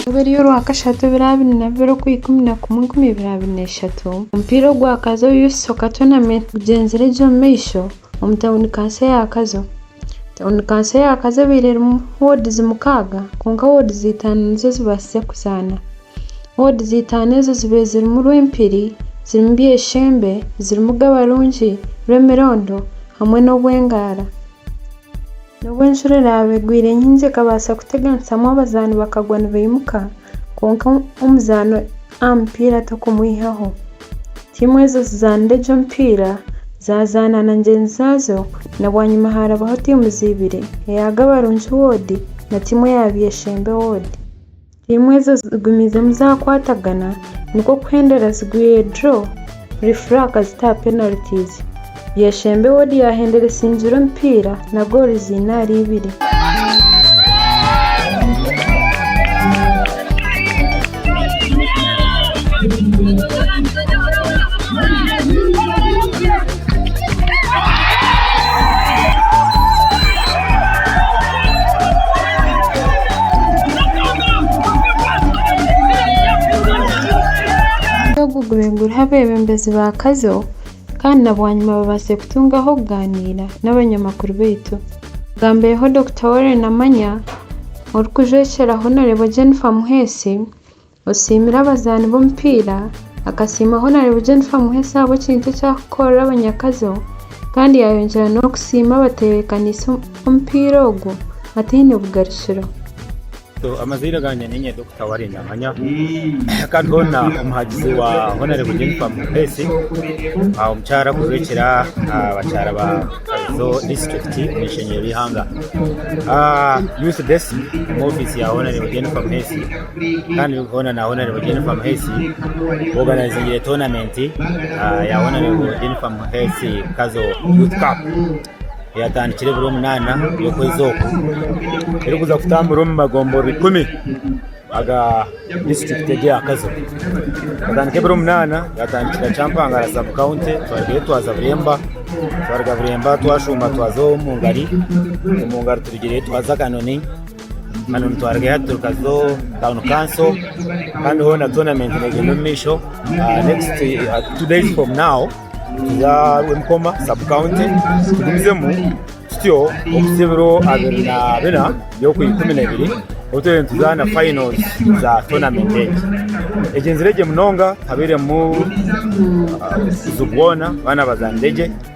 Omu ovaire y'orwakashatu ebiraabiri na bibiri okwa ikumi na kumwe enkumi ibiri abiri na ishatu, omupiira ogwa Kazo Youth Soccer Tournament gugyenzire gye omu maisho omu tauni kanso eya Kazo. Tauni kanso eya Kazo ebaire erimu woodizi mukaaga kwonka woodizi itaano nizo zibaasize kuzaana. Woodi za itaano ezo zibe zirimu Rwempiri, zirimu Byeshembe, zirimu Gabarungi, Rwemirondo hamwe n'Obwengara. N'obu enjura eraabe egwire nyingi ekabaasa kuteganisamu abazaani bakagwa nibaimuka, kwonka omuzaani aha mupiira torikumwihaho. Tiimu ezo zizaanire egyo emipiira zaazaana na ngyenzi zaazo na bwanyima harabaho tiimu ziibiri, eya Gabarungi Woodi na tiimu eya Byeshembe Woodi. Tiimu ezo zigumiizemu zaakwatagana nikwo kuhendera zigwire draw referee akazita aha penalties. Byeshembe Ward yahendera esingire omupiira na goal ziine ahari ibiri. Omuze ogu gubinguriha abebembezi ba kazo kandi na bwanyima babaase kutungaho okugaaniira n'abanyamakuru baitu. Agambireho Dokita Warren Namanya, orikujwekyera Hon Jennifer Muheesi, Osiimire abazaani b'omupiira akasiima Honarebo Jennifer Muheesi ahabw'ekintu eki arikukorera abanyakazo kandi yaayongyera n'okusiima abateebekaniise omupiira ogwo ataine bugarukiro. Amazaire gangye niinye Dokita Warren Namanya kandi hoona omuhagizi wa Honarebo Jennifer Muheesi omukyara arikujwekyera abakyara ba Kabizo disiturikiti omu ishengyero ry'eihanga. Youth Desk omu ofiisi ya Honarebo Jennifer Muheesi. kandi hoona na honarebo Jennifer Muheesi ku oganayizingire toonamenti ya honarebo Jennifer Muheesi Kazo Youth Cup eyatandikire buri omunaana y'okwezi oku erikuza kutambura omu magomboro ikumi aga disiturikiti egi ya Kazo yatandikire buri omunaana yatandikira Kyampangara sabu kawunti twarugayo twaza Buremba twaruga Buremba twashuuma twaza Omungari Omungari turugireyo twaza Kanoni Hanu nitwarega aha turuka zo town kanso kandi hoona tournament negenda omu maisho next uh, two days from now tuza rwemukoma sub county tugumizemu tutyo okuza ebiro abiri na bina by'oku ikumi n'ebiri obu twere nituzaana finals za tournament egi egyenziregye munonga habairemu uh, zubwona baana bazaanire gye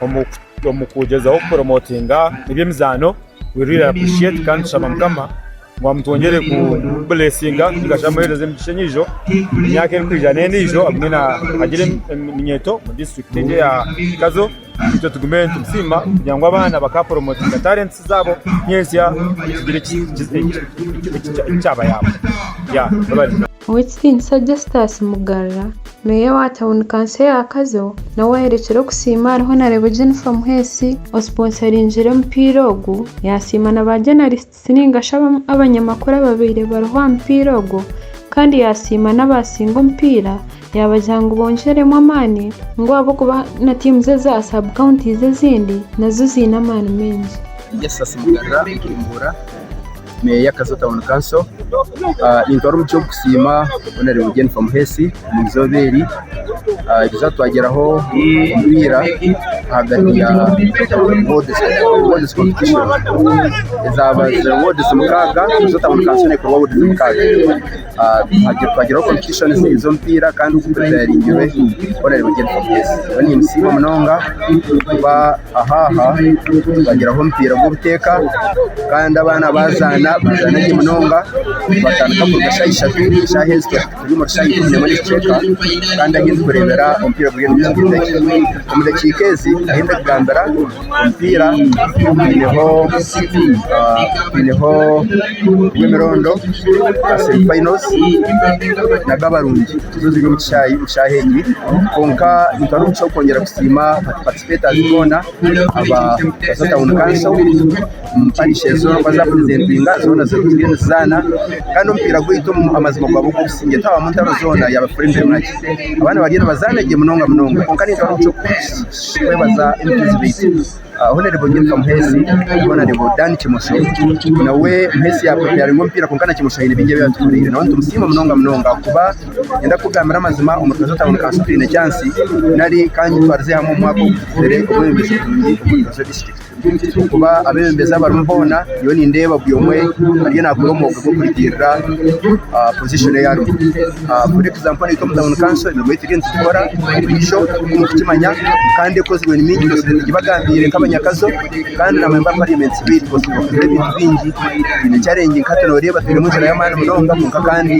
Omu kugyezaho kuporomotinga eby'emizaano weririre appreciate kandi tushaba mukama ngu amutwongyere ku blessinga tugasha amuhereza emigisha enyijo emyaka erikwija n'endijo agume na agire eminyeto mu district egi ya Kazo itwe tugume nitusiima kugira ngu abaana bakaporomotinga talents zabo nyensya tugire ekyabayamba Ow'ekitiinisa Justus Mugarura, meeya wa tauni kanso eya Kazo, nawe ayerekire okusiima ariho nareeba Jennifer Muheesi osponsoringire omupiira ogu, yasiima na ba journalists ninga shi abanyamakuru ababaire bariho aha mupiira ogwo kandi yasiima n'abasinga omupiira yabagira ngu bongyeremu amaani ngu ahabw'okuba na teams eza sub counties ezindi nazo ziine amaani maingi. Justus Mugarura, Bujumbura. Meeya ya Kazo Town Council nintwara omugisha ogw'okusiima Honourable Jennifer Muheesi omu izooba eri eri zatwagyeraho omu ira ahagati ya Wards Wards Competition ezaabaire Wards mukaaga Kazo Town Council neekorwa Wards mukaaga. Twagire competition z'omupiira kandi oku tutayaringirwe orareeba gye nkomo ezi. Nyowe nimbisiima munonga kuba aha aha twagiraho omupiira gw'obuteeka kandi abaana baazaana bazaana gye munonga batandika kuruga shaaha ishatu shaaha ezi twashusha turi omuri shaaha ikumi n'emwe n'ekicweka kandi ahi ndikureebera omupiira guriyo nigukyezaho. Omu dakiika ezi ahi ndikugambira Omupiira gwineho gwineho gw'emirondo gwa semi finals nago abarungi nizo ziri omu kishaayi omu shaaha egi kwonka nitubaasa omu kishaayi kwongyera kusiima ba participators boona aba Gaso town council omu parish ezo baaza kupurezentinga zoona ziriyo nizizaana kandi omupiira gwaitu amazima gwaba ogw'obusingye tihaabamu ntaro zoona yaaba friendly match abaana bariyo nibazaana gye munonga munonga kwonka ningira ngu Twebaza Emigenzi baitu. Hon Nyiruka Muheesi, Hon Dan Kimosho, nawe Muheesi yapreparinga omupiira kwonka na Kimosho haine bingi ebi yatukoreire. Nawe nitumusiima munonga munonga ahakuba nindenda kukugambira amazima omu Rukasha Town kansi twine chansi nari ka nyetwarize hamwe omu mwaka oguhikire obwebembezi burungi omu Rukasha disiturikiti. Tihaine eki ekirikuba abeebembezi abarimu boona, nyowe nindeeba buri omwe ariyo naakora omwoga gw'okurugirira aha pozishoni ei arimu. For example naitwe omu tauni kanso emirimo ei turiyo nitukora buriijo nk'oku orikukimanya kandi ekozirwe ni mingi purezidenti gibagambiire nk'abanyakazo kandi na memba wa pariyamenti sibaingi bikoozi nibakozire ebintu bingi. Twine charengi nka hati nooreeba twinemu enjara y'amaani munonga kwonka kandi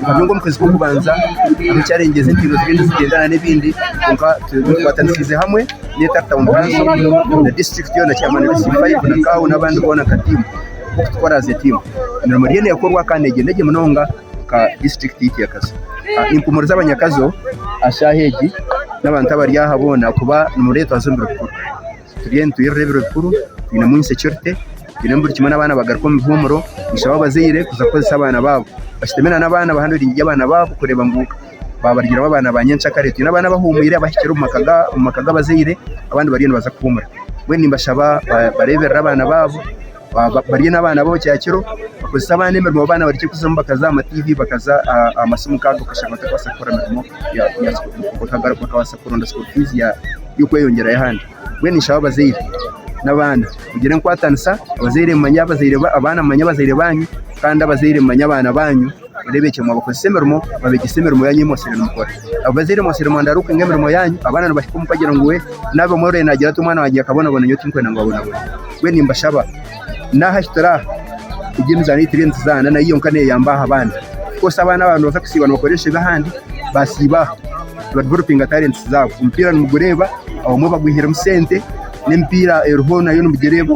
nyowe nk'omukazi w'okubanza hariho charengi ezi mpingo ziriyo nizigyendera n'ebindi kwonka twikwatanisiize hamwe. neta town council na district yona chairman wa C5 na cow nabandi bona nka team kutukora as a team emirimo eriyo nekorwa kandi negyenda gye munonga nka district itwe ya Kazo Ah, nimpumuriza abanyakazo aha shaaha egi n'abantu abari aha bona kuba nimuretwaza omu biro bikuru turiyo nitwirira ebiro bikuru twinemu insecurity twinemu buri kimwe n'abaana bagaruka omu bihumuro nshaba abazaire kuza kukozesa abaana baabo bashutame na n'abaana bahanuriire abaana baabo kureba ngu babaryiremu abaana ba nyenkyakare twine abaana abahumwire abahikire omu maka gabazaire abandi bariyo nibaza kuhumura mbwenu nimbashaba bareberere abaana baabo barye nabaana baabo kyakiro bakozese abaana emirimo abaana bareke kuza omukazi aha mativi bakaza aha masimu nkaago okashanga batakubaasa kukora mirimo bakabaasa kuronda school fees yokweyongyerayo ahandi mbwenu ninshaba abazaire nabaana mugire enkwatanisa abazaire mumanye abaana mumanye abazaire banyu kandi abazaire mumanye abaana banyu. oreebekye ngu abakozesa emirimo babegyese emirimo yaanyu ei mwatsire nimukora. Abazaire mwatsire mwenda ari okwinga emirimo yaanyu, abaana nibahika omu kugira ngu we naabe omwe orore naagira ati omwana wangye yakabonaboona nyowe tinkwenda ngu abonabone. Mbwenu nimbashaba naaha ahi turi aha, egi emizaano ei turiyo nituzaana nayo yonka neeyamba aha bandi. Ofukoosi abaana baabo nibabaasa kusiiba nibakora enshobe ahandi, baasiiba aha nibadevelopinga talenti zaabo. Omupiira nimugureeba, abamwe bagwihiremu sente n'emipiira eriho nayo nimugireeba.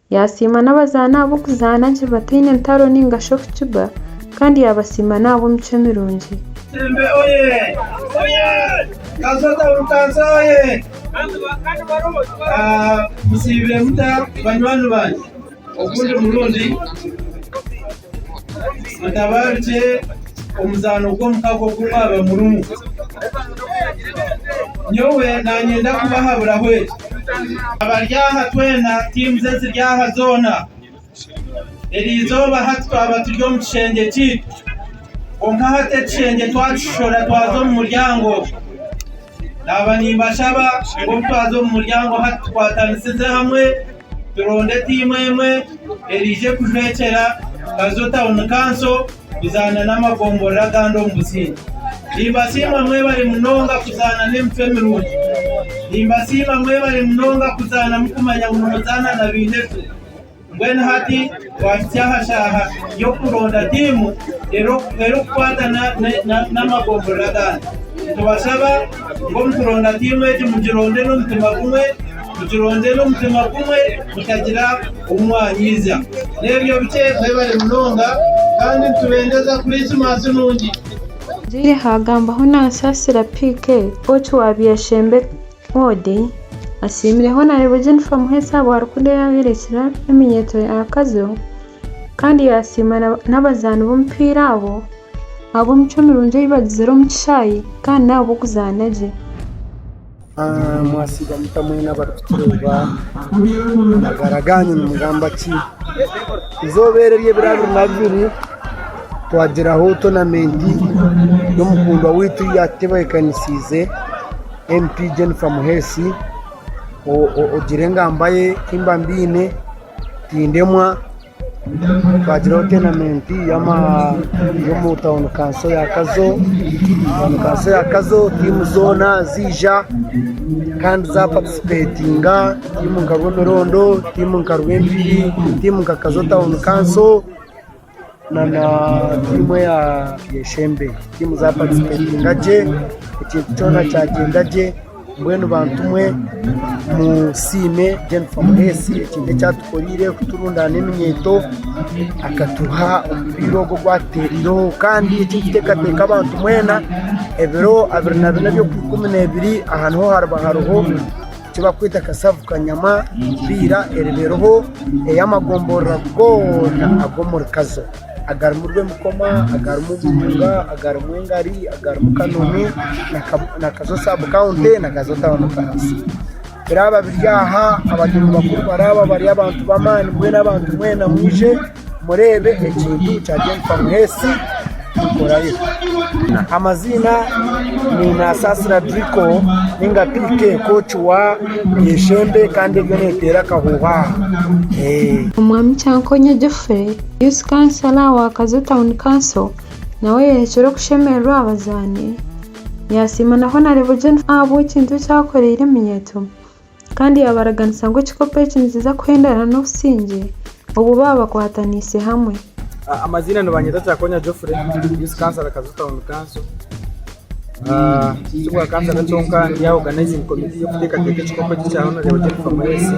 Yaasiima n'abazaani abo okuzaana gye bataine ntaro nainga shi okukiba, kandi yaabasiima n'ahabw'emicwe mirungi. Mutabarukye omuzaano gw'omukago ogu mwaba murimu. Nyowe nanyenda kubahaburaho eki. Abari aha twena tiimuzi eziri aha zoona. Eri izooba hati twaba turi omu kishengye kyaitu. Kwonka hati ekishengye twakishishora twaza omu muryango. Naaba nimbashaba ngu obu twaza omu muryango hati tukwatanisize hamwe. Turonde tiimu emwe eriije kujwekyera Kazo Town Council kuzaana n'amagomborora agandi omu businge. Nimbasiima mwebare munonga kuzaana n'emitwe mirungi. Nimbasiima mwebare munonga kuzaana mukumanya ngu nimuzaana na bainekwe. Mbwenu hati. Twahitsya aha shaaha y'okuronda tiimu erikukwatana n'amagombolola agandi. Nitubashaba ngu omu kuronda tiimu egi mugironde n'omutima gumwe, mugironde n'omutima gumwe mutagira ou mwanyiiza. N'ebyo bikye mwebare munonga kandi nitubendeza Kurisimasi nungi. Ngyire haagambaho na Nsasira PK, Oki wa Byeshembe. Forde asiimire Honarebo Jennifer Muheesa Rwarikunda eyaayorekire eminyeeto ya Kazo kandi yaasiima n'abazaani b'omupiira abo ahabw'emicwe mirungi ei bagizire omu kishaayi kandi n'ahabw'okuzaana gye. Mwasiiba muta mwena abarikutureeba? Amagara gaanyu nimugamba ki? Eizooba eri ery'ebiraabiri na bibiri twagyeraho toonamenti y'omukundwa waitu ei yaatutebeekanisiize. MP Jennifer Muheesi ogire engamba ye timba mbyine tindemwa twagiraho tenamenti y'omu tauni kanso ya Kazo, tauni kanso ya Kazo tiimu zoona ziija kandi zaapatisipetinga tiimu nka Rwemerondo, tiimu nka Rwenzururu, tiimu nka Kazo tauni kanso. na tiimu eya Enshembe. Tiimu zaapatisipetinga gye, ekintu kyona kyagyenda gye. Mbwenu bantu mwe musiime Gen Fomureesi ekintu eki atukoreire kuturundaana eminyeeto, akatuha omupiira ogu ogu atuteerireho. Kandi eki nikiteekateeka abantu mwena ebiro abiri na bina eby'okwikumi neebiri aha niho hariba hariho Eki barikweta kasavu kanyama empiira eriba eriho ey'amagomborora goona ag'omuri Kazo agarimu Rwemikoma, agarimu Buhunga, agarimu Engari, agarimu Kanoni na Kazo sub county na Kazo town council. Biraaba biri aha abateebi bakuru baraaba bari abantu b'amaani mbwenu abantu mwena mwije. Mureebe ekintu kya Jennifer Muheesi Nkorayo. Amaziina ni Nasasira Drico ninga PK coach wa Enshembe kandi eriyo neteera akahuuha aha. Eh. Omwami Kyankonya Geoffrey, Youth Councillor wa Kazo Town Council, nawe yayerekire okushemererwa aha bazaani, yasiima na Honarebo Jennifer ahabw'ekintu eki akoreire eminyeeto Kandi yaabaraganisa ngu ekikopo eki nikiza kuhendana n'obusingye obu baaba bakwataniise hamwe. Amaziina nibanyeta Kyakonya Geoffrey, Youth Councillor Kajuju Town Council. Tibwa Councillor kyonka ndi aha Organising Committee y'okuteekateeka ekikopo eki kya Honourable Jennifer Mweesi.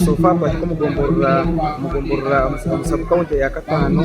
So far twahika omu gomborora, omu gomborora, omu sub county eya Kataano.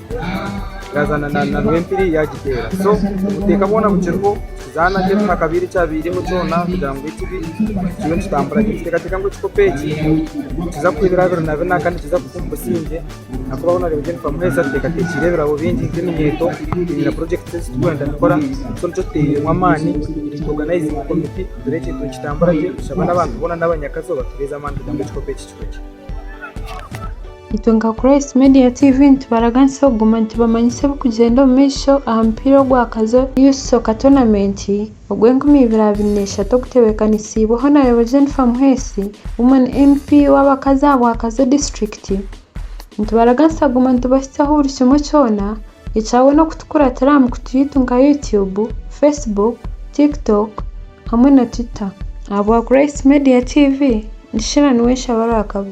yazaana na rwempiri yagiteera so obuteeka bwoona bukiriho zaana gye tuha akabaire ekyabairemu kyoona kugira ngu ekibi kiriyo nikitambura gye niteekateeka ngu ekikopo eki nikiza kuha ebirabo biri na bina kandi nikiza kufa omu busingye ahakuba hoona orikureeba Jennifer Muheeza tuteekateekire ebirabo bingi nk'eminyeeto twine na project ezi turikwenda kukora so nikyo tuteeiremu amaani tu organize committee tureebe ekintu nikitambura gye tushaba n'abantu boona n'abanyakazi obatureeze amaani kugira ngu ekikopo eki kihwe gye. Itwe nka Christ Media TV nitubaraganisa kuguma nitubamanyisa ebirikugyenda omu maisho aha mupiira ogwakazooba Youth Soccer Tournament ogw'enkumi ibiri abiri n'eshatu ogutebeekanisiibwe Honarebo Jennifer Muheesi, Women MP w'abakazi aha bwakazo disiturikiti. Nitubaraganisa kuguma nitubahitsyaho buri kimwe kyona ekya boona okutukuratira aha mikutu yaitu nka YouTube, Facebook, Tiktok. hamwe na Twitter. Ahabwa Grace Media TV, Nishira niwe Nshabarwakabi.